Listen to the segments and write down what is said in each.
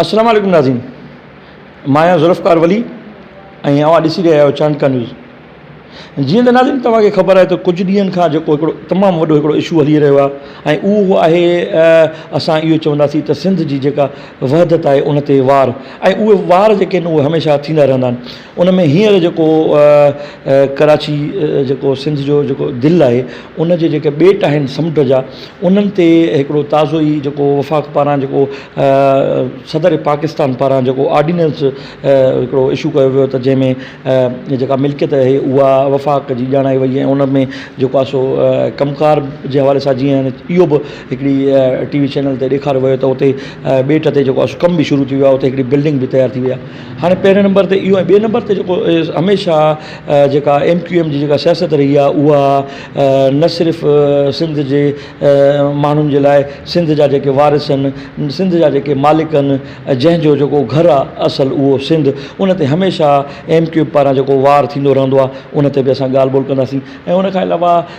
السلام عليڪم ناظرين مان آهيان ذوالفقار ولي ۽ اوهان ڏسي رهيا آهيو چانڊڪا نيوز جيئن ته ناظرين توهان کي خبر آهي ته ڪجهه ڏينهن کان جيڪو هڪڙو تمام وڏو هڪڙو اشو هلي رهيو آهي ۽ اهو آهي اسان اهو چونداسين ته سنڌ جي جيڪا وحدت آهي ان تي وار ۽ اهي وار جيڪي آهن اهي هميشه ٿيندا رهندا آهن ان ۾ هينئر جيڪو ڪراچي جيڪو سنڌ جو جيڪو دل آهي ان جي جيڪي ٻيٽ آهن سمنڊ جا انهن تي هڪڙو تازو ئي جيڪو وفاق پاران جيڪو صدر پاڪستان پاران جيڪو آرڊيننس هڪڙو اشو ڪيو ويو ته جنهن ۾ جيڪا ملڪيت آهي اها وفاق جي ڄاڻائي وئي ۽ ان ۾ جيڪو آهي سو ڪم ڪار جي حوالي سان جيئن اهو به هڪڙي ٽي وي چينل تي ڏيکاريو ويو ته اتي ٻيٽ تي جيڪو آهي سو ڪم به شروع ٿي ويو آهي اتي هڪڙي بلڊنگ به تيار ٿي وئي آهي هاڻي پهرين نمبر تي اهو ۽ ٻئي نمبر تي جيڪو هميشه جيڪا ايم ڪيو ايم جي جيڪا سياست رهي آهي اها نه صرف سنڌ جي ماڻهن جي لاء سنڌ جا جيڪي وارث آهن سنڌ جا جيڪي مالڪ آهن جنهن جو جيڪو گهر آهي اصل اهو سنڌ ان تي هميشه ايم ڪيو ايم پاران جيڪو وار ٿيندو رهندو آهي ان تي بي اسان ڳالهه ٻولهه ڪنداسين ۽ ان کان علاوه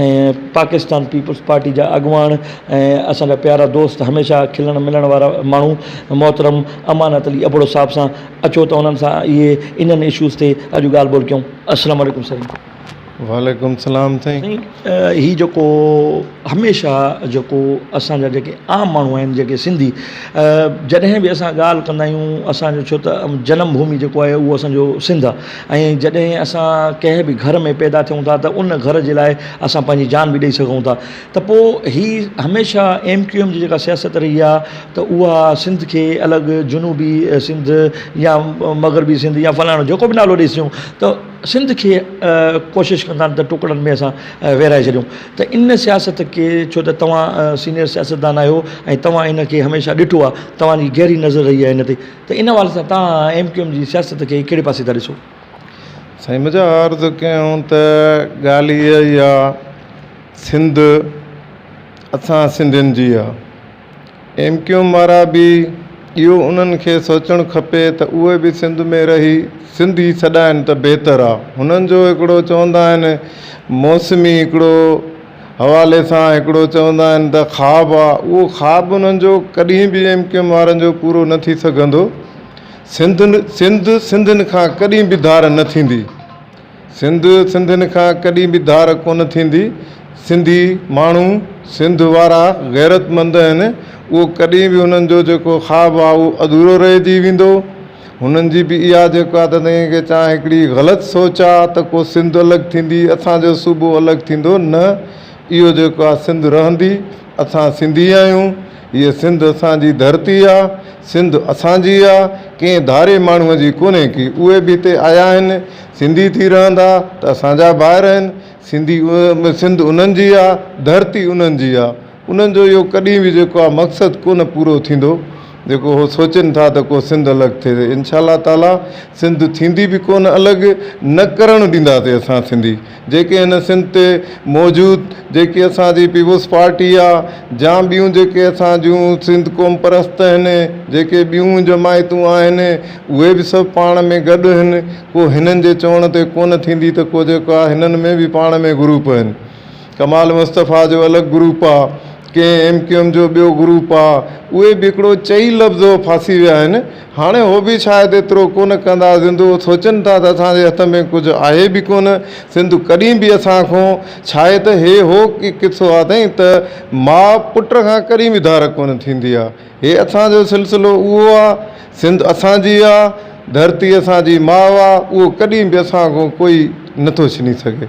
۽ پاڪستان پيپلز پارٽي جا اڳواڻ ۽ اسان جا پيارا دوست هميشه کلڻ ملڻ وارا ماڻهو محترم امانت علي ابڙو صاحب سان اچو ته انهن سان اهي انهن اشوز تي اڄ ڳالهه ٻولهه ڪيون السلام عليڪم سائين. وعليڪم السلام سائين. سائين هي جيڪو هميشه جيڪو اسان جا جيڪي عام ماڻهو آهن جيڪي سنڌي جڏهن به اسان ڳالهه ڪندا آهيون اسان جو ڇو ته جنم ڀومي جيڪو آهي اهو اسان جو سنڌ آهي ۽ جڏهن اسان ڪنهن به گهر ۾ پيدا ٿيون ٿا ته ان گهر جي لاء اسان پنهنجي جان به ڏئي سگهون ٿا ته پوء هي هميشه ايم ڪيو ايم جي جيڪا سياست رهي آهي ته اها سنڌ کي الڳ جنوبي سنڌ يا مغربي سنڌ يا فلاڻو جيڪو به نالو ڏئيس ٿيون ته سنڌ کي ڪوشش ڪندا آهن ته ٽڪڙن ۾ اسان ويرائي ڇڏيون ته ان سياست کي ڇو ته توهان سينئر سياستدان آهيو ۽ توهان ان کي هميشه ڏٺو آهي توهان جي گهري نظر رهي آهي ان تي ته ان حوالي سان توهان ايم ڪيو ايم جي سياست کي ڪهڙي پاسي ٿا ڏسو؟ سائين مجا عرض ڪيون ته ڳالهه اها ئي آ سنڌ اسان سنڌين جي آ ايم ڪيو ايم وارا به اهو انهن کي سوچڻ کپي ته اهي به سنڌ ۾ رهي سنڌ ئي سڏائن ته بهتر آ هنن جو هڪڙو چوندا آهن موسمي هڪڙو حوالي سان هڪڙو چوندا آهن ته خواب آ اهو خواب انهن جو ڪڏهن به ايم ڪيو ايم وارن جو پورو نه ٿي سگهندو سنڌ سنڌ سنڌين کان ڪڏهن به ڌار نه ٿيندي سنڌ سنڌين کان ڪڏهن به ڌار ڪونه ٿيندي سنڌي ماڻهو سنڌ وارا غيرتمند آهن اهو ڪڏهن به انهن جو جيڪو خواب آ اهو اڌورو رهجي ويندو هنن جي به اها جيڪو آ ته ڪي چان هڪڙي غلط سوچ آ ته ڪو سنڌ الڳ ٿيندي اسان جو صوبو الڳ ٿيندو نه اهو جيڪو آ سنڌ رهندي اسان سنڌي آهيون هيء سنڌ اسان جي ڌرتي آ سنڌ اسان جي آ ڪنهن ڌاري ماڻهو جي ڪونهي ڪي اهي به هتي آيا آهن سنڌي ٿي رهندا ته اسان جا ڀائر آهن سنڌي سنڌ انهن جي آ ڌرتي انهن جي آ. انهن جو اهو ڪڏهن به جيڪو آ مقصد ڪونه پورو ٿيندو جيڪو هو سوچين ٿا ته ڪو سنڌ الڳ ٿئي ته انشاء الله تعاليٰ سنڌ ٿيندي به ڪونه الڳ نه ڪرڻ ڏينداسي اسان سنڌي جيڪي هن سنڌ تي موجود جيڪي اسان جي پيپلز پارٽي آ جا ٻيون جيڪي اسان جون سنڌ قوم پرست آهن جيڪي ٻيون جماعتون آهن اهي به سڀ پاڻ ۾ گڏ هن ڪو هنن جي چوڻ تي ڪونه ٿيندي ته ڪو جيڪو آ هنن ۾ به پاڻ ۾ گروپ آهن ڪمال مصطفيٰ جو الڳ گروپ آ، ڪنهن ايم ڪيو ايم جو ٻيو گروپ آ، اهي به هڪڙو چئي لفظ هو ڦاسي ويا آهن، هاڻي هو به شايد ايترو ڪونه ڪندا زندو سوچن ٿا ته اسان جي هٿ ۾ ڪجهه آهي به ڪونه سنڌ ڪڏهن به اسان کون ڇاهي ته هي هو قصو آ سائين ته ماء پٽ کان ڪڏهن به ڌار ڪونه ٿيندي آ هي اسان جو سلسلو اهو آ سنڌ اسان جي آ ڌرتي اسان جي ماء آ اهو ڪڏهن به اسان کون ڪوئي نٿو ڇني سگهي.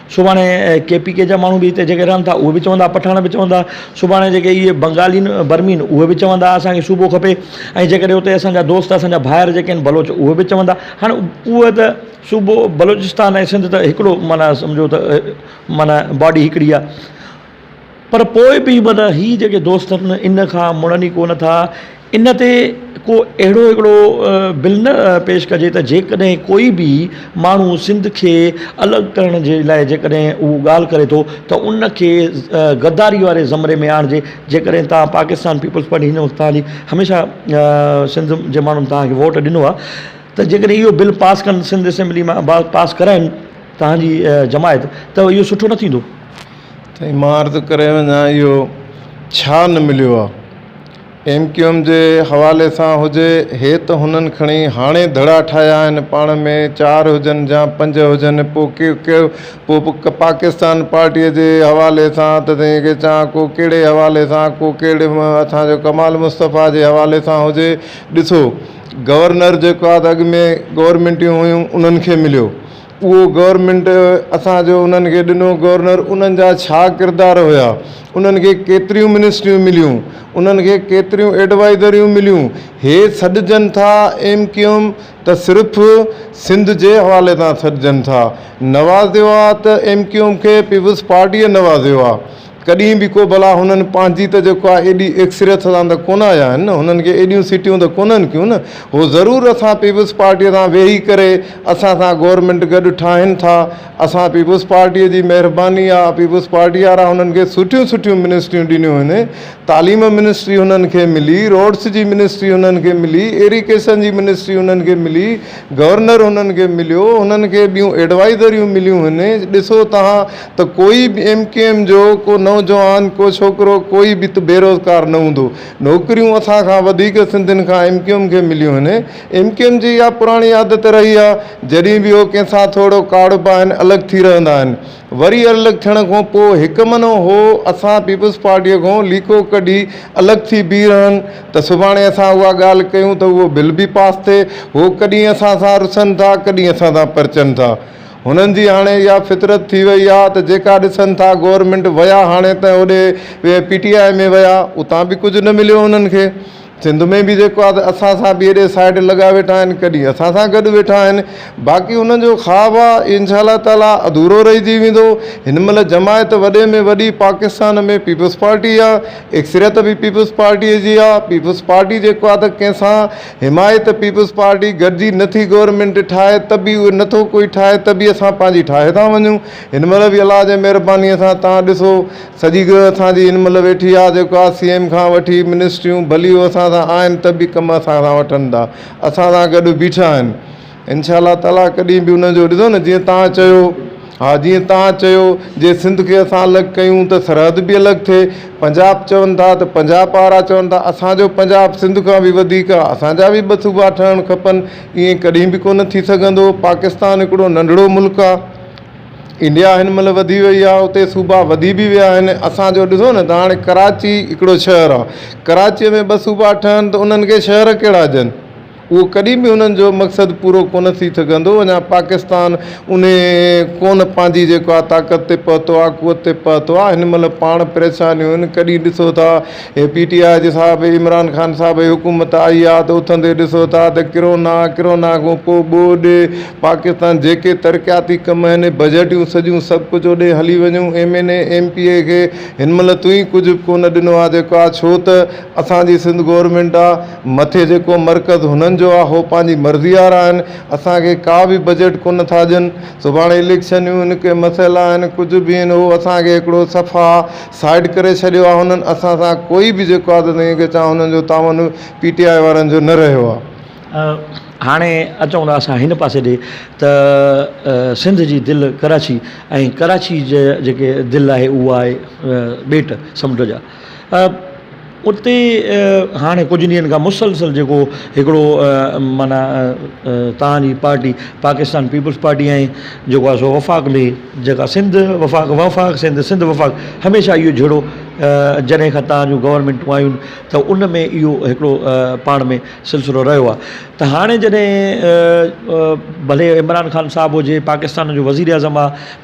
سڀاڻي ڪي پي ڪي جا ماڻهو به هتي جيڪي رهن ٿا اهي به چوندا پٺاڻ به چوندا سڀاڻي جيڪي اهي بنگالين برمين اهي به چوندا اسانکي صوبو کپي ۽ جيڪڏهن اتي اسانجا دوست اسانجا ڀائر جيڪي آهن بلوچ اهي به چوندا هاڻ اهي ته صوبو بلوچستان ۽ سنڌ ته هڪڙو معنيٰ سمجهو ته معنيٰ باڊي هڪڙي آهي پر پوء به من هي جيڪي دوست آهن ان کان مڙن ئي ڪونه ٿا. ان تي ڪو اهڙو هڪڙو بل نه پيش ڪجي ته جيڪڏهن ڪوئي به ماڻهو سنڌ کي الڳ ڪرڻ جي لاء جيڪڏهن هو ڳالهه ڪري ٿو ته ان کي غداري واري زمري ۾ آڻجي. جيڪڏهن توهان پاڪستان پيپلز پارٽي هن وقت توهان جي هميشه سنڌ جي ماڻهن توهان کي ووٽ ڏنو آهي ته جيڪڏهن اهو بل پاس ڪن سنڌ اسيمبلي مان پاس ڪرائين توهان جي جماعت ته اهو سٺو نه ٿيندو. سائين مان عرض ڪري وڃان اهو ڇا نه مليو آ ايم ڪيو ايم جي حوالي سان هجي هي ته هنن کڻي هاڻي ڌڙا ٺاهيا آهن پاڻ ۾ چار هجن جا پنج هجن پو ڪيو ڪيو پو پاڪستان پارٽي جي حوالي سان ته سائين کي چان ڪو ڪهڙي حوالي سان ڪو ڪهڙي اسان جو ڪمال مصطفيٰ جي حوالي سان هجي ڏسو گورنر جيڪو آ ته اڳ ۾ گورمينٽيون هيون انهن کي مليو اهو گورنمينٽ اسان جو انهن کي ڏنو گورنر انهن جا ڇا ڪردار هيا انهن کي ڪيتريون منسٽريون مليون انهن کي ڪيتريون ايڊوائزريون مليون هي سڏجن ٿا ايم ڪيو ايم ته صرف سنڌ جي حوالي سان سڏجن ٿا نوازيو آ ته ايم ڪيو ايم کي پيپلز پارٽي نوازيو آ ڪڏهن به ڪو بلا هنن پنهنجي ته جيڪو آهي ايڏي اڪثريت سان ته ڪونه آيا آهن نه، هنن کي ايڏيون سيٽيون ته ڪونهن ڪيون نه، هو ضرور اسان پيپلز پارٽيء سان ويهي ڪري اسان سان گورنمينٽ گڏ ٺاهين ٿا، اسان پيپلز پارٽيء جي مهرباني آهي، پيپلز پارٽيء وارا هنن کي سٺيون سٺيون منسٽريون ڏنيون هن، تعليم منسٽري هنن کي ملي، روڊس جي منسٽري هنن کي ملي، ايريڪيشن جي منسٽري هنن کي ملي، گورنر هنن کي مليو، هنن کي ٻيون ايڊوائيزريون مليون هن، ڏسو توهان ته ڪوئي به ايم ڪيو ايم جو ڪو نوجوان ڪو ڇوڪرو ڪوئي به ته بيروزگار نه هوندو نوڪريون اسان کان وڌيڪ سنڌين کان ايم ڪيو ايم کي مليون آهن ايم ڪيو ايم جي اها پراڻي عادت رهي آهي جڏهن به هو ڪنهن سان ٿورڙو ڪاڙهبا آهن الڳ ٿي رهندا آهن وري الڳ ٿيڻ کان پوء هڪ منو هو اسان پيپلز پارٽي کان ليڪو ڪڍي الڳ ٿي بيهي رهن ته سڀاڻي اسان اها ڳالهه ڪيون ته اهو بل به پاس ٿئي هو ڪڏهن اسان سان رسن ٿا ڪڏهن اسان سان پرچن ٿا هنن جي هاڻي اها فطرت ٿي وئي آ ته جيڪا ڏسن ٿا گورنمينٽ ويا هاڻي ته هوڏي پي ٽي آء ۾ ويا اتان به ڪجهه نه مليو هنن کي سنڌ ۾ به جيڪو آ ته اسان سان به هيڏي سائيڊ لڳا ويٺا آهن ڪڏهن اسان سان گڏ ويٺا آهن باقي هنن جو خواب آ انشاء الله تعالي اڌورو رهجي ويندو هن مهل جماعت وڏي ۾ وڏي پاڪستان ۾ پيپلز پارٽي آ اڪثريت به پيپلز پارٽي جي آ پيپلز پارٽي جيڪو آ ته ڪنهن سان حمايت ته پيپلز پارٽي گڏجي نه ٿي گورنمينٽ ٺاهي ته به اهي نٿو ڪوئي ٺاهي ته به اسان پنهنجي ٺاهي ٿا وڃون هن مهل به الله جي مهرباني سان تان ڏسو سڄي ڳهه اسان جي هن مهل ويٺي آهي جيڪو آهي سي ايم کان وٺي منسٽريون ڀلي هو اسان سان آهن ته به ڪم اسان سان وٺن ٿا اسان سان گڏ بيٺا آهن انشاء الله تعالٰي ڪڏهن به ان جو ڏسو نه جيئن تان چيو ها جيئن تان چيو جي سنڌ کي اسان الڳ ڪيون ته سرحد به الڳ ٿئي پنجاب چون ٿا ته پنجاب وارا چون ٿا اسان جو پنجاب سنڌ کان به وڌيڪ آ اسان جا به ٻه صوبا ٺهڻ کپن ائين ڪڏهن به ڪونه ٿي سگهندو پاڪستان هڪڙو ننڍڙو ملڪ آ انڊيا هن مهل وڌي وئي آ اتي صوبا وڌي به ويا آهن اسان جو ڏسو نه ته هاڻي ڪراچي هڪڙو شهر آ ڪراچي ۾ ٻه صوبا ٺهن ته انهن کي شهر ڪهڙا ڏين اهو ڪڏهن به انهن جو مقصد پورو ڪونه ٿي سگهندو، اڃا پاڪستان انهي ڪونه پنهنجي جيڪو آ طاقت تي پهتو آ، قوت تي پهتو آ، هن مهل پاڻ پريشانيون هن ڪڏهن ڏسو ٿا هي پي ٽي آء جي صاحب عمران خان صاحب جي حڪومت آئي آ ته اٿندي ڏسو ٿا ته ڪرونا ڪرونا کان پوء ٻوڏ پاڪستان جيڪي ترقياتي ڪم آهن بجيٽيون سڄيون سڀ ڪجهه اوڏي هلي وڃون M N A M P A کي هن مهل توهين ڪجهه به ڪونه ڏنو آ جيڪو آ ڇو ته اسان جي سنڌ گورمينٽ آ مٿي جيڪو مرڪز هنن جو آ هو پنهنجي مرضي وارا آهن اسان کي ڪا به بجيٽ ڪونه ٿا ڏين سڀاڻي اليڪشنيون ان ڪي مسئلا آهن ڪجهه به آهن هو اسان کي هڪڙو صفا سائيڊ ڪري ڇڏيو آ هنن اسان سان ڪوئي به جيڪو آ ته سائين کي چان هنن جو تعاون پي ٽي آئي وارن جو نه رهيو آ. هاڻي اچون ٿا اسان هن پاسي ڏي ته سنڌ جي دل ڪراچي ۽ ڪراچي جي جيڪي دل آهي اهو آهي ٻيٽ سمنڊ جا. اتي هاڻي ڪجهه ڏينهن کان مسلسل جيڪو هڪڙو معنيٰ تان جي پارٽي پاڪستان پيپلز پارٽي ۽ جيڪو آهي سو وفاق مي جيڪا سنڌ وفاق وفاق سنڌ سنڌ وفاق هميشه اهو جهيڙو جڏهن کان تان جون گورمينٽون آيون ته ان ۾ اهو هڪڙو پاڻ ۾ سلسلو رهيو آهي ته هاڻي جڏهن ڀلي عمران خان صاحب هجي پاڪستان جو وزير اعظم آهي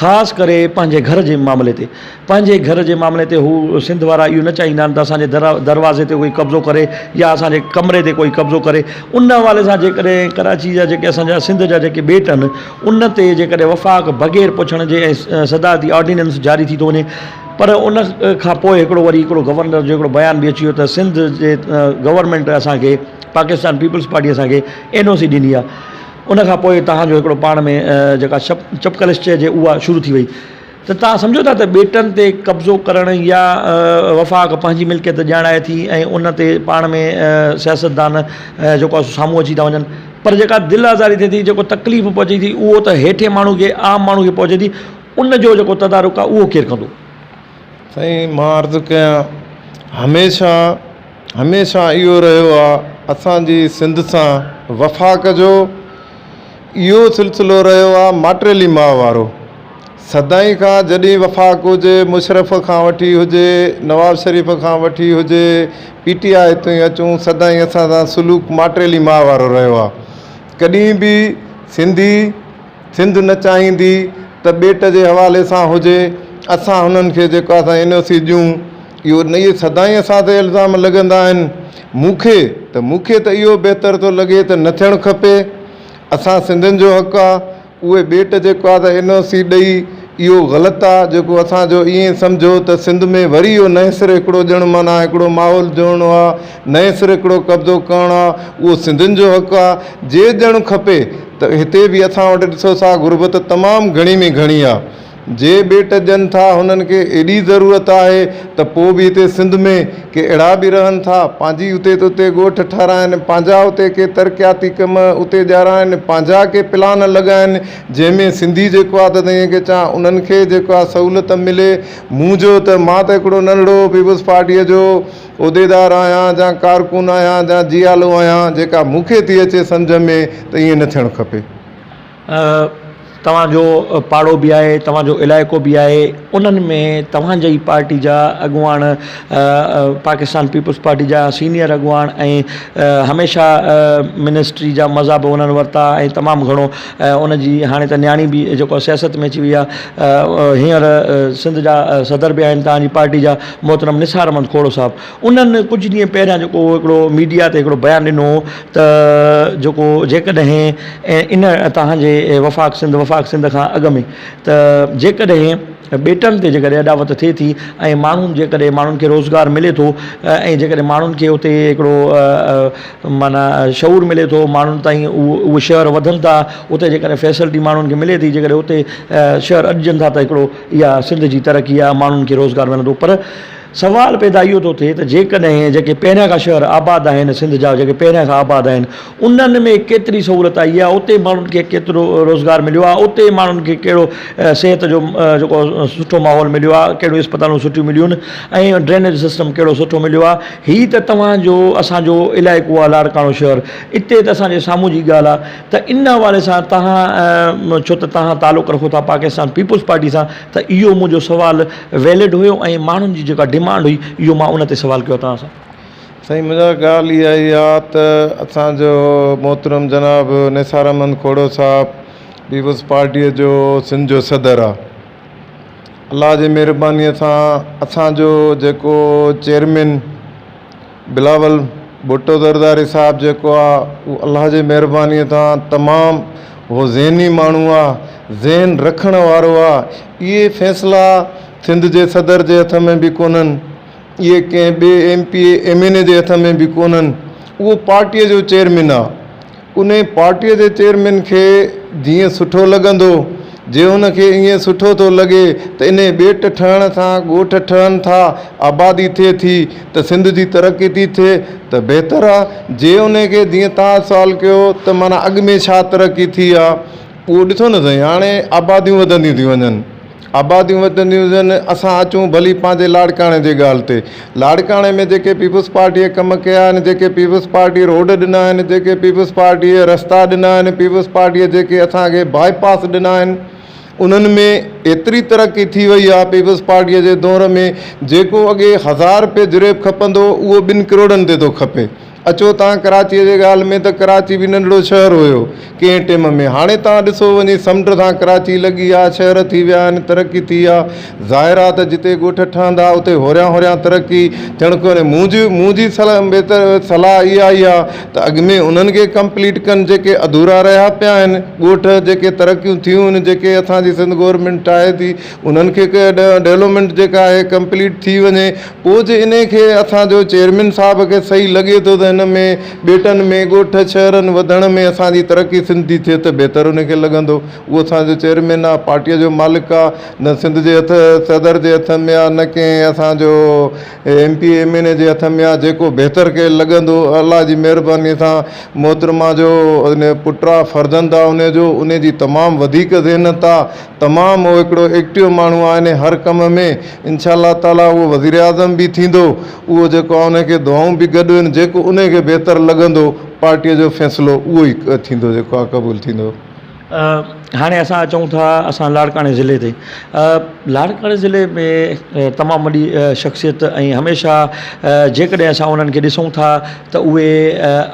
خاص ڪري پنهنجي گهر جي معاملي تي پنهنجي گهر جي معاملي تي هو سنڌ وارا اهو نه چاهيندا آهن ته اسان جي در دروازي تي ڪوئي قبضو ڪري يا اسان جي ڪمري تي ڪوئي قبضو ڪري ان حوالي سان جيڪڏهن ڪراچي جا جيڪي اسان جا سنڌ جا جيڪي ٻيٽ آهن ان تي جيڪڏهن وفاق بغير پڇڻ جي ۽ صدارتي آرڊيننس جاري ٿي ٿو وڃي پر ان کان پوء هڪڙو وري هڪڙو گورنر جو هڪڙو بيان به اچي ويو ته سنڌ جي گورنمينٽ اسان کي پاڪستان پيپلز پارٽي اسان کي اين او سي ڏني آهي ان کان پوء توهان جو هڪڙو پاڻ ۾ جيڪا چپڪلش چئجي اها شروع ٿي وئي ته توهان سمجهو ٿا ته ٻيٽن تي قبضو ڪرڻ يا وفاق پنهنجي ملڪيت ڄاڻائي ٿي ۽ ان تي پاڻ ۾ سياستدان جيڪو آهي سو سامهون اچي ٿا وڃن پر جيڪا دل آزاري ٿئي ٿي جيڪو تڪليف پهچي ٿي اهو ته هيٺين ماڻهو کي عام ماڻهو کي پهچي ٿي ان جو جيڪو تدارڪ آهي اهو ڪير ڪندو؟ سائين مان عرض ڪيان هميشه هميشه اهو رهيو آ اسانجي سنڌ سان وفاق جو اهو سلسلو رهيو آ ماٽيلي ماء وارو سدائين کان جڏهن وفاق هجي مشرف کان وٺي هجي نواز شريف کان وٺي هجي پي ٽي آء تائين اچون سدائين اسان سان سلوڪ ماٽيلي ماء وارو رهيو آ ڪڏهن به سنڌي سنڌ نه چاهيندي ته ٻيٽ جي حوالي سان هجي اسان هنن کي جيڪو اسان اين او سي ڏيون اهو نه اهي سدائين اسان تي الزام لڳندا آهن مون کي ته مون کي ته اهو بهتر ٿو لڳي ته نه ٿيڻ کپي اسان سنڌين جو حق آهي اهي ٻيٽ جيڪو آهي ته اين او سي ڏئي اهو غلط آهي جيڪو اسانجو ائين سمجهو ته سنڌ ۾ وري اهو نئين سري هڪڙو ڄڻ معنيٰ هڪڙو ماحول جوڙڻو آهي نئين سري هڪڙو قبضو ڪرڻو آهي اهو سنڌين جو حق آهي جي ڄڻ کپي ته هتي به اسان وٽ ڏسو سا غربت تمام گهڻي ۾ گهڻي آ جي ٻيٽ ڏين ٿا هنن کي ايڏي ضرورت آهي ته پو به هتي سنڌ ۾ ڪي اهڙا به رهن ٿا پنهنجي اتي ته اتي ڳوٺ ٺهرائن پنهنجا اتي ڪي ترقياتي ڪم اتي ڄارائن پنهنجا ڪي پلان لڳائن جنهن ۾ سنڌي جيڪو آ ته ائين ڪي چان انهن کي جيڪو آ سهولت ملي مون جو ته مان ته هڪڙو ننڍڙو پيپلز پارٽيء جو عهديدار آهيان جا ڪارڪن آهيان جا جيالو آهيان جيڪا مون کي ٿي اچي سمجهه ۾ ته ائين نه ٿيڻ کپي. توهان جو پاڙو به آهي توهان جو علائقو به آهي انهن ۾ توهان جي ئي پارٽي جا اڳواڻ پاڪستان پيپلز پارٽي جا سينيئر اڳواڻ ۽ هميشه منسٽري جا مزا به انهن ورتا ۽ تمام گهڻو ان جي هاڻي ته نياڻي به جيڪو سياست ۾ اچي وئي آهي هينئر سنڌ جا صدر به آهن توهان جي پارٽي جا محترم نثار احمد کوڙو صاحب انهن ڪجهه ڏينهن پهريان جيڪو هڪڙو ميڊيا تي هڪڙو بيان ڏنو هو ته جيڪو جيڪڏهن ان توهان جي وفاق سنڌ وفاق سنڌ کان اڳ ۾ ته جيڪڏهن ٻيٽن تي جيڪڏهن اڏاوت ٿئي ٿي ۽ ماڻهن جيڪڏهن ماڻهن کي روزگار ملي ٿو ۽ جيڪڏهن ماڻهن کي اتي هڪڙو معنيٰ شعور ملي ٿو ماڻهن تائين اهو شهر وڌن ٿا اتي جيڪڏهن فيسلٽي ماڻهن کي ملي ٿي جيڪڏهن اتي شهر اڏجن ٿا ته هڪڙو اها سنڌ جي ترقي آهي، ماڻهن کي روزگار ملندو پر سوال پيدا اهو ٿو ٿئي ته جيڪڏهن جيڪي پهريان کان شهر آباد آهن سنڌ جا جيڪي پهريان کان آباد آهن انهن ۾ ڪيتري سهولت آئي آهي اتي ماڻهن کي ڪيترو روزگار مليو آهي اتي ماڻهن کي ڪهڙو صحت جو جيڪو سٺو ماحول مليو آهي ڪهڙيون اسپتالون سٺيون مليون آهن ۽ ڊرينيج سسٽم ڪهڙو سٺو مليو آهي هي ته توهان جو اسان جو علائقو آهي لاڙڪاڻو شهر اتي ته اسان جي سامهون جي ڳالهه آهي ته ان حوالي سان توهان ڇو ته توهان تعلق رکو ٿا پاڪستان پيپلز پارٽي سان ته اهو منهنجو سوال ويلڊ هيو ۽ ماڻهن جي جيڪا ڊمانڊ هئي اهو مان ان تي سوال ڪيو توهان سان. سائين منهنجا ڳالهه اها ئي آ ته اسان جو محترم جناب نثار احمد کوڙو صاحب پيپلز پارٽي جو سنڌ جو صدر آ الله جي مهرباني سان اسان جو جيڪو چيئرمين بلاول ڀٽو زرداري صاحب جيڪو آ اهو الله جي مهرباني تان تمام اهو ذهني ماڻهو آ ذهن رکڻ وارو آ اهي فيصلا سنڌ جي صدر جي هٿ ۾ به ڪونهن اهي ڪنهن ٻي M P M N A جي هٿ ۾ به ڪونهن اهو پارٽي جو چيئرمين آ انهيء پارٽيء جي چيئرمين کي جيئن سٺو لڳندو. جي هن کي ائين سٺو ٿو لڳي ته انهيء ٻيٽ ٺهڻ سان ڳوٺ ٺهن ٿا، آبادي ٿئي ٿي ته سنڌ جي ترقي ٿي ٿئي ته بهتر آ. جي انهيء کي جيئن توهان سوال ڪيو ته معنيٰ اڳ ۾ ڇا ترقي ٿي آ، اهو ڏسو نه سائين، هاڻي آباديون وڌنديون ٿيون وڃن. آباديون وڌنديون وينديون، اسان اچون ڀلي پنهنجي لاڙڪاڻي جي ڳالهه تي، لاڙڪاڻي ۾ جيڪي پيپلز پارٽيء ڪم ڪيا آهن، جيڪي پيپلز پارٽيء روڊ ڏنا آهن، جيڪي پيپلز پارٽيء رستا ڏنا آهن، پيپلز پارٽيء جيڪي اسان کي باء پاس ڏنا آهن، انهن ۾ ايتري ترقي ٿي وئي آهي، پيپلز پارٽيء جي دور ۾ جيڪو اڳي هزار رپيه جريب کپندو هو، اهو ٻن ڪروڙن تي ٿو کپي. اچو تان ڪراچيء جي ڳالهه ۾ ته ڪراچي به ننڍڙو شهر هيو ڪنهن ٽيم ۾ هاڻي تان ڏسو وڃي سمنڊ سان ڪراچي لڳي آ شهر ٿي ويا آهن ترقي ٿي آ ظاهر آ ته جتي ڳوٺ ٺهندا اتي هوريان هوريان ترقي ٿيڻ کوني منهنجي منهنجي صلاح اها ئي آ ته اڳ ۾ انهن کي ڪمپليٽ ڪن جيڪي اڌورا رهيا پيا آهن ڳوٺ جيڪي ترقيون ٿيون آهن جيڪي اسان جي سنڌ گورنمينٽ ٺاهي ٿي انهن کي ڊولومينٽ جيڪا آهي ڪمپليٽ ٿي وڃي پوء جي انهيء کي اسان جو چيئرمين صاحب کي صحيح لڳي ٿو ته هن ۾ ٻيٽن ۾ ڳوٺ شهرن وڌڻ ۾ اسان جي ترقي سنڌ جي ٿئي ته بهتر انهيء کي لڳندو. اهو اسان جو چيئرمين آ، پارٽيء جو مالڪ آ، نه سنڌ جي هٿ صدر جي هٿ ۾ آ نه ڪنهن اسان جو M P M N A جي هٿ ۾ آ، جيڪو بهتر کي لڳندو. الله جي مهربانيء سان محترمه جو پٽ آ، فرزند آ انهيء جو، انهيء جي تمام وڌيڪ ذهنيت آ، تمام هو هڪڙو ايڪٽيو ماڻهو آهي ۽ هر ڪم ۾ انشاء الله تعالي اهو وزيراعظم به ٿيندو اهو جيڪو آهي ان کي دعائون به گڏ هن جيڪو ان کي بهتر لڳندو پارٽي جو فيصلو اهو ئي ٿيندو جيڪو آهي قبول ٿيندو. هاڻي اسان اچون ٿا اسان لاڙڪاڻي ضلعي تي لاڙڪاڻي ضلعي ۾ تمام وڏي شخصيت ۽ هميشه جيڪڏهن اسان انهن کي ڏسون ٿا ته اهي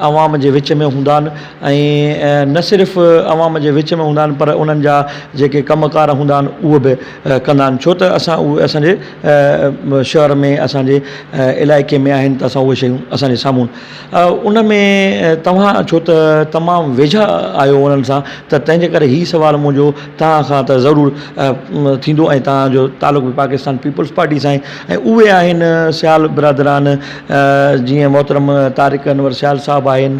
عوام جي وچ ۾ هوندا آهن ۽ نه صرف عوام جي وچ ۾ هوندا آهن پر انهن جا جيڪي ڪم ڪار هوندا آهن اهو به ڪندا آهن ڇو ته اسان اهي اسانجي شهر ۾ اسانجي علائقي ۾ آهن ته اسان اهي شيون اسانجي سامهون ان ۾ توهان ڇو ته تمام ويجها آهيو انهن سان ته تنهنجي ڪري هي سوال منهنجو توهان کان ته ضرور ٿيندو ۽ توهانجو تعلق به پاڪستان پيپلز پارٽي سان آهي ۽ اهي آهن سيال برادران جيئن محترم طارق انور سيال صاحب آهن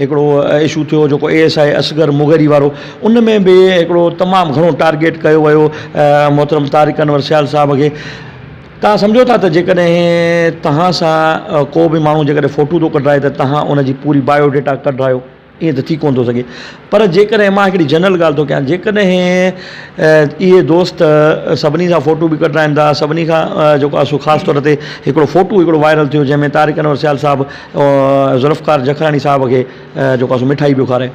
هڪڙو اشو ٿيو جيڪو A S I Asghar Mugheri وارو ان ۾ به هڪڙو تمام گهڻو ٽارگيٽ ڪيو ويو محترم طارق انور سيال صاحب کي تان سمجهو ٿا ته جيڪڏهن تهان سان ڪو به ماڻهو جيڪڏهن فوٽو ٿو ڪڍرائي ته تهان ان جي پوري بايو ڊيٽا ڪڍرايو ائين ته ٿي ڪونه ٿو سگهي پر جيڪڏهن مان هڪڙي جنرل ڳالهه ٿو ڪيان جيڪڏهن اهي دوست سڀني سان فوٽو به ڪڍرائن ٿا سڀني کان جيڪو آسو خاص طور تي هڪڙو فوٽو هڪڙو وائرل ٿيو جنهن ۾ طارق انور سيال صاحب ذوالفقار جکراڻي صاحب کي جيڪو آهي سو مٺائي پيو کارائي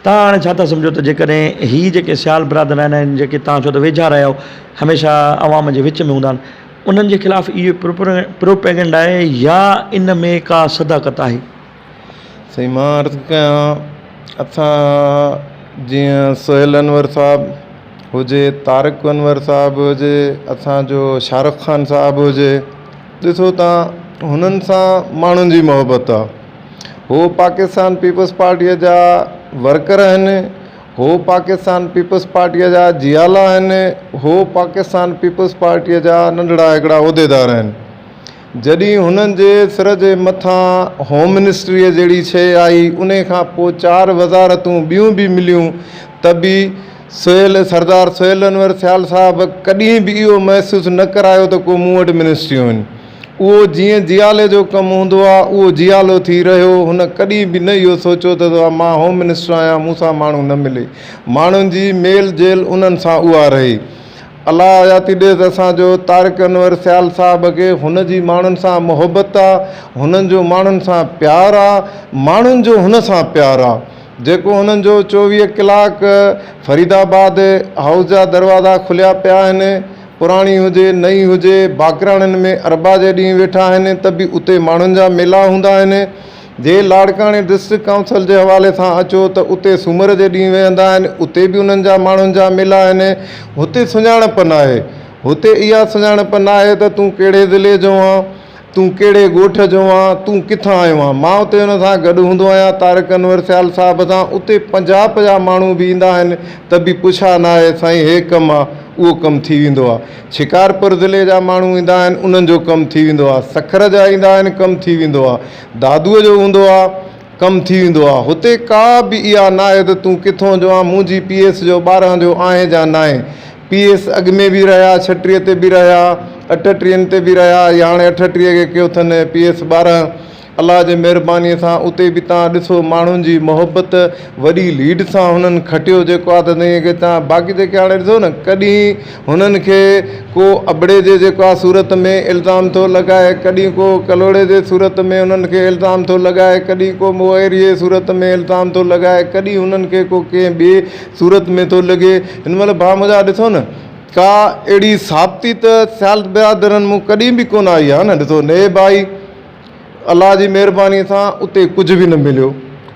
تان هاڻي ڇا ٿا سمجهو ته جيڪڏهن هي جيڪي سيال برادر آهن ۽ جيڪي تان چئو ته ويجها رهيا آهيو هميشه عوام جي وچ ۾ هوندا آهن انهن جي خلاف اهي پروپيگنڊ آهي يا ان ۾ ڪا صداقت آهي سائين مان عرض ڪيان اسان جيئن سهيل انور صاحب هجي طارق انور صاحب هجي اسان جو شاهه رخ خان صاحب هجي ڏسو تان هنن سان ماڻهن جي محبت آ هو پاڪستان پيپلز پارٽيء جا ورڪر آهن هو پاڪستان پيپلز پارٽيء جا جيالا آهن هو پاڪستان پيپلز پارٽيء جا ننڍڙا هڪڙا عهديدار آهن جڏهن هنن جي سر جي مٿان هوم منسٽريء جهڙي شيء آئي انهي کان پوء چار وزارتون ٻيون به مليون ته به سهيل، سردار سهيل انور سيال صاحب ڪڏهن به اهو محسوس نه ڪرايو ته ڪو مون وٽ منسٽريون آهن. اهو جيئن جيالي جو ڪم هوندو آهي اهو جيالو ٿي رهيو. هن ڪڏهن به نه اهو سوچيو ته مان هوم منسٽر آهيان مون سان ماڻهو نه ملي. ماڻهن جي ميل جيل انهن سان اها رهي. الله حياتي ڏيس اسان جو طارق انور سيال صاحب کي هن جي ماڻهن سان محبت آهي. هن جو ماڻهن سان پيار آهي. ماڻهن جو هن سان پيار آهي. جيڪو هنن جو چوويهه ڪلاڪ فريد آباد هائوس جا دروازا کليا پيا آهن پراڻي هجي نئين هجي باقراڻين ۾ اربع جي ڏينهن ويٺا آهن ته به اتي ماڻهن جا ميلا هوندا آهن جي لاڙڪاڻي ڊسٽرڪٽ ڪائونسل جي حوالي سان اچو ته اتي سومر جي ڏينهن ويهندا آهن اتي به انهن جا ماڻهن جا ميلا آهن هتي سڃاڻپ ناهي هتي اها سڃاڻپ ناهي ته تون ڪهڙي ضلعي جو آن تون ڪهڙي ڳوٺ جو آن تون ڪٿان آيو آن؟ مان اتي انهن سان گڏ هوندو آهيان طارق انور سيال صاحب سان اتي پنجاهه پنجاهه ماڻهو به ايندا آهن ته به پڇا نه آهي سائين هي ڪم آ اهو ڪم ٿي ويندو آ شڪارپور ضلعي جا ماڻهو ايندا آهن انهن جو ڪم ٿي ويندو آ سکر جا ايندا آهن ڪم ٿي ويندو آ دادوء جو هوندو آ ڪم ٿي ويندو آ هتي ڪا به اها نه آهي ته تون ڪٿون جو آن منهنجي پيئس جو ٻارهن جو آهين جا ناهين پي ايس اڳ ۾ به رهيا، ڇٽيهه تي به رهيا، اٺٽيهن تي به رهيا ۽ هاڻي اٺٽيهه کي ڪيو اٿن پي ايس ٻارهن. الله جي مهربانيء سان اتي به تان ڏسو ماڻهن جي محبت وڏي ليڊ سان هنن کٽيو جيڪو آ ته تنهن کي تان باقي جيڪي هاڻي ڏسو نه ڪڏهن هنن کي ڪو ابڙي جي جيڪو آ صورت ۾ الزام ٿو لڳائي ڪڏهن ڪو ڪلهوڙي جي صورت ۾ هنن کي الزام ٿو لڳائي ڪڏهن ڪو موئريء جي صورت ۾ الزام ٿو لڳائي ڪڏهن هنن کي ڪو ڪنهن ٻئي صورت ۾ ٿو لڳي. هن مهل ڀاء منهنجا ڏسو نه ڪا اهڙي ثابتي ته سيال برادرن مون ڪڏهن به ڪونه آئي آهي نه ڏسو نه ڀائي الله جي مهرباني سان اتي ڪجهه به نه مليو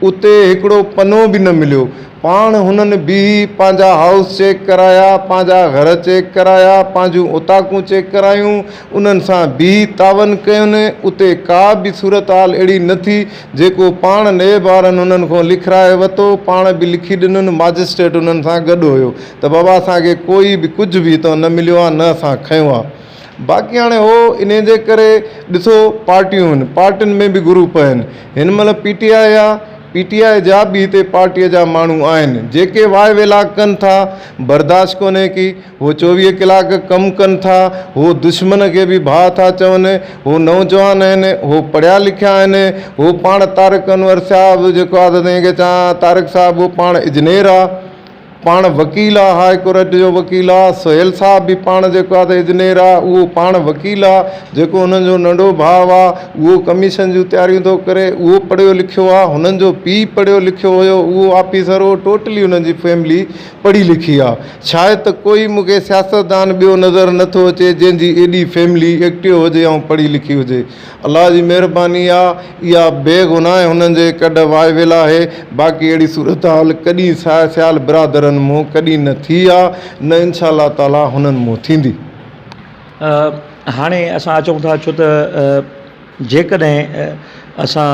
اتي هڪڙو پنو به نه مليو پاڻ هنن بيهي پنهنجا هائوس چيڪ ڪرايا پنهنجا گهر چيڪ ڪرايا پنهنجون اوطاقون چيڪ ڪرايون انهن سان بيهي تعاون ڪيون اتي ڪا به صورتحال اهڙي نه ٿي جيڪو پاڻ نيب وارن انهن کان لکرائي وتو، پاڻ به لکي ڏنن، ماجسٽريٽ انهن سان گڏ هيو ته بابا اسان کي ڪوئي به ڪجهه به هتان نه مليو آهي نه اسان کنيو آهي. باقي هاڻي هو انهي جي ڪري ڏسو پارٽيون آهن، پارٽين ۾ به گروپ آهن، هن مهل پي ٽي آء آهي، پي ٽي آء جا به هتي پارٽي جا ماڻهو آهن، جيڪي واء ويلاڳ ڪن ٿا، برداشت ڪونهي ڪي. هو چوويهه ڪلاڪ ڪم ڪن ٿا، هو دشمن کي به ڀاء ٿا چون، هو نوجوان آهن، هو پڙهيا لکيا آهن، هو پاڻ طارق انور صاحب جيڪو آ سا تنهن کي چان ها طارق صاحب هو پاڻ اجنير آ، پاڻ وڪيل آ، هاء ڪورٽ جو وڪيل آ، سهيل صاحب به پاڻ جيڪو آ سا اجنير آ، اهو پاڻ وڪيل آ، جيڪو هنن جو ننڍو ڀاء آ اهو ڪميشن جون تياريون ٿو ڪري اهو پڙهيو لکيو آ، هنن جو پيء پڙهيو لکيو هيو اهو آفيسر هو ٽوٽلي هنن جي فيملي پڙهي لکي آ شايد ته ڪوئي مون کي سياستدان ٻيو نظر نه ٿو اچي جنهن جي ايڏي فيملي ايڪٽيو هجي ۽ پڙهي لکي هجي الله جي مهرباني آ اها بي گناهه هنن جي ڪڍ وائي ويل آهي باقي اهڙي صورتحال ڪڏي ساهي سيال برادرن مون ڪڏي نه ٿي آ نه انشاء الله تعالي هنن مون ٿيندي. هاڻي اسان اچون ٿا ڇو ته جيڪڏهن اسان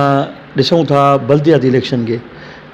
ڏسون ٿا بلدياتي اليڪشن کي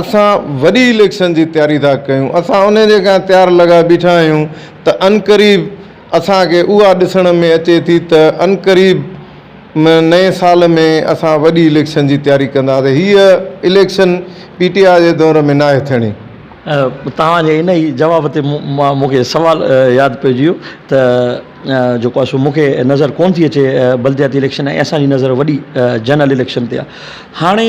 اسان وڏي اليڪشن جي تياري ٿا ڪيون، اسان انهي جي ڪا تيار لڳا بيٺا آهيون ته عنقريب اسان کي اها ڏسڻ ۾ اچي ٿي ته عنقريب م نئين سال ۾ اسان وڏي اليڪشن جي تياري ڪنداسين، هيء اليڪشن پي ٽي آء جي دور ۾ ناهي ٿيڻي. توهان جي انهي جواب تي مان مون کي سوال ياد پئجي ويو ته جيڪو آهي سو مون کي نظر ڪونه ٿي اچي بلدياتي اليڪشن ۽ اسان جي نظر وڏي جنرل اليڪشن تي آهي هاڻي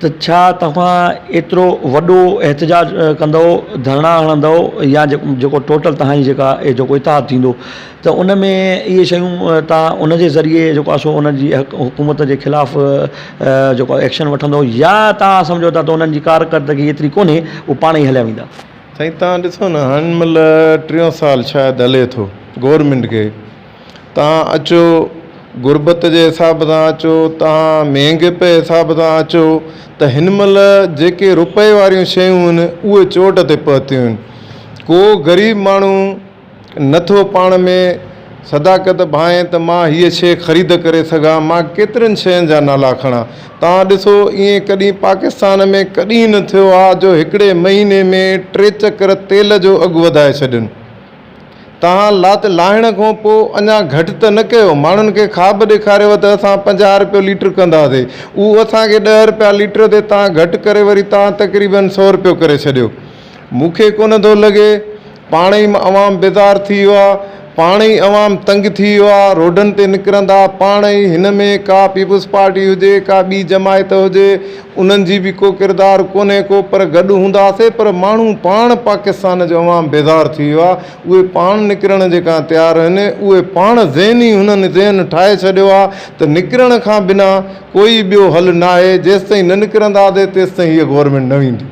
ته ڇا توهان ايترو وڏو احتجاج ڪندؤ ڌرڻا هڻندؤ يا جيڪو ٽوٽل توهان جي جيڪا جيڪو اتحاد ٿيندو ته ان ۾ اهي شيون توهان ان جي ذريعي جيڪو آسو ان جي حڪومت جي خلاف جيڪو ايڪشن وٺندؤ يا توهان سمجهو ٿا ته انهن جي ڪارڪردگي ايتري ڪونهي هو پاڻ ئي هليا ويندا. سائين توهان ڏسو نه هن مهل ٽيون سال شايد هلي ٿو گورنمينٽ کي تان اچو غربت جي حساب سان اچو تان مھنگي پي حساب سان اچو ته ھن مھل جيڪي روپئي واريون شيون ھن اھي چوٽ تي پھتيون ھن ڪو غريب ماڻھو نٿو پاڻ ۾ صداقت ڀانئي ته مان ھيء شيء خريد ڪري سگھان مان ڪيترين شين جا نالا کڻان تان ڏسو ايئن ڪڏھن پاڪستان ۾ ڪڏھن نه ٿيو آ جو ھڪڙي مھيني ۾ ٽي چڪر تيل جو اگھ وڌائي ڇڏين. توهان لات لاهڻ کان پوء اڃا گهٽ ته نه ڪيو؟ ماڻهن کي خواب ڏيکاريو ته اسان پنجاهه رپيو ليٽر ڪنداسين، اهو اسان کي ڏهه رپيا ليٽر تي توهان گهٽ ڪري وري توهان تقريباً سؤ رپيو ڪري ڇڏيو. مون کي ڪونه ٿو لڳي. پاڻ ئي عوام بيزار ٿي ويو آهي، پاڻ ئي عوام تنگ ٿي ويو آهي، روڊن تي نڪرندا پاڻ ئي هن ۾ ڪا پيپلز پارٽي هجي ڪا ٻي جماعت هجي، انهن جي به ڪو ڪردار ڪونهي ڪو پر گڏ هونداسين پر ماڻهو پاڻ پاڪستان جو عوام بيزار ٿي ويو آهي اهي پاڻ نڪرڻ جي ڪان تيار آهن اهي پاڻ ذهني هنن ذهن ٺاهي ڇڏيو آهي ته نڪرڻ کان بنا ڪوئي ٻيو حل ناهي جيستائين نه نڪرنداسين تيستائين هيء گورنمينٽ نه ويندي.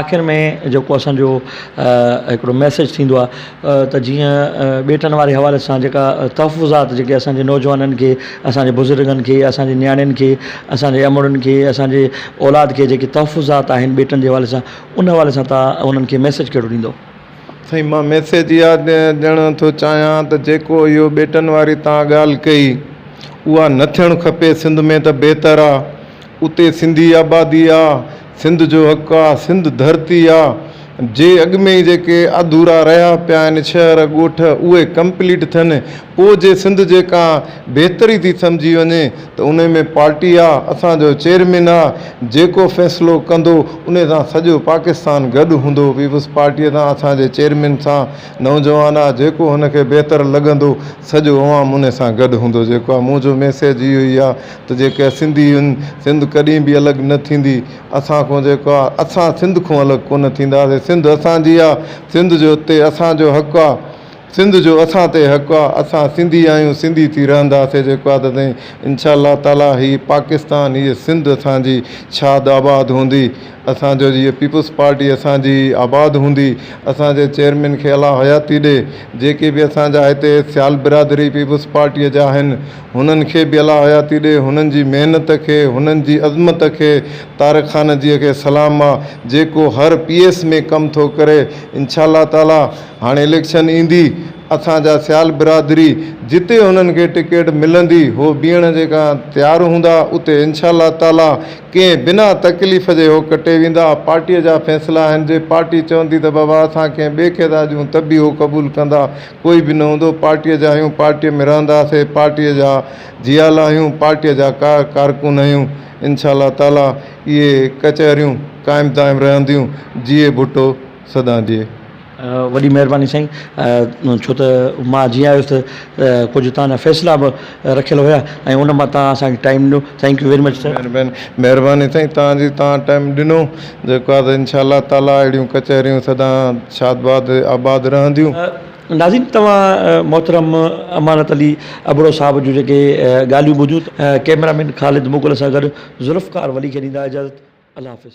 آخر ۾ جيڪو اسان جو هڪڙو ميسيج ٿيندو آ ته جيئن ٻيٽن واري حوالي سان جيڪا تحفظات جيڪي اسان جي نوجوانن کي اسان جي بزرگن کي اسان جي نياڻين کي اسان جي امڙن کي اسان جي اولاد کي جيڪي تحفظات آهن ٻيٽن جي حوالي سان ان حوالي سان تان انهن کي ميسيج ڪهڙو ڏيندو. سائين مان ميسيج اها ڏيڻ ٿو چاهيان ته جيڪو اهو ٻيٽن واري تان ڳالهه ڪئي اها نه ٿيڻ کپي سنڌ ۾ ته بهتر آ اتي سنڌي آبادي آ، سنڌ جو حق آ، سنڌ ڌرتي آ، جي اڳ ۾ ئي جيڪي اڌورا رهيا پيا آهن شهر ڳوٺ اهي ڪمپليٽ ٿين پوء جي سنڌ جي ڪا بهتري ٿي سمجهي وڃي ته ان ۾ پارٽي آ، اسان جو چيئرمين آ، جيڪو فيصلو ڪندو ان سان سڄو پاڪستان گڏ هوندو، پيپلز پارٽي سان اسان جي چيئرمين سان نوجوان آ، جيڪو هن کي بهتر لڳندو سڄو عوام ان سان گڏ هوندو، جيڪو آ مون جو ميسيج اهو ئي آ. ته جيڪي سنڌي هن سنڌ ڪڏهن به الڳ نه ٿيندي اسان کون جيڪو آ اسان سنڌ کون الڳ ڪونه ٿينداسين سنڌ اسان جي آ سنڌ جو تي اسان جو حق آ سنڌ جو اسان تي حق آ اسان سنڌي آهيون سنڌي ٿي رهنداسين جيڪو آ ته سائين انشاء الله تعالي هي پاڪستان هي سنڌ اسان جي شاد آباد هوندي اسان جو جي پيپلز پارٽي اسان جي آباد هوندي اسان جي چيئرمين کي الله حياتي ڏي جيڪي به اسان جا هتي سيال برادري پيپلز پارٽي جا آهن هنن کي به الله حياتي ڏي، هنن جي محنت کي، هنن جي عظمت کي، طارق خان جيء کي سلام آ، جيڪو هر پي ايس ۾ ڪم ٿو ڪري، انشاء الله تعاليٰ هاڻي اليڪشن ايندي، اسان جا سيال برادري جتي هنن کي ٽڪيٽ ملندي، هو بيهڻ جي ڪا تيار هوندا، اتي انشاء الله تعاليٰ ڪنهن بنا تڪليف جي هو ڪٽي ويندا، پارٽيء جا فيصلا آهن، جي پارٽي چوندي ته بابا اسان ڪنهن ٻئي کي ٿا ڏيون ته به هو قبول ڪندا، ڪوئي به نه هوندو، پارٽيء جا آهيون، پارٽيء ۾ رهنداسي، پارٽيء جا جيالا آهيون، پارٽيء جا ڪارڪن آهيون، انشاء الله تعاليٰ اهي ڪچهريون قائم دائم رهنديون، جيئي ڀٽو سدان جيئي. وڏي مهرباني سائين ڇو ته مان جيئن آيس ته ڪجهه تهان جا فيصلا به. رکيل هيا ۽ ان مان توهان اسان کي ٽائيم ڏنو thank you very much sir. مهرباني مهرباني سائين توهان جي توهان ٽائيم ڏنو جيڪو آهي سا انشاء الله تعالي اهڙيون ڪچهريون سدا شاد باد آباد رهنديون. ناظرين توهان محترم امانت علي ابڙو صاحب جون جيڪي ڳالهيون ٻڌيون ته ڪيمرا مين خالد مغل سان گڏ ذوالفقار ولي کي ڏيندا اجازت الله حافظ.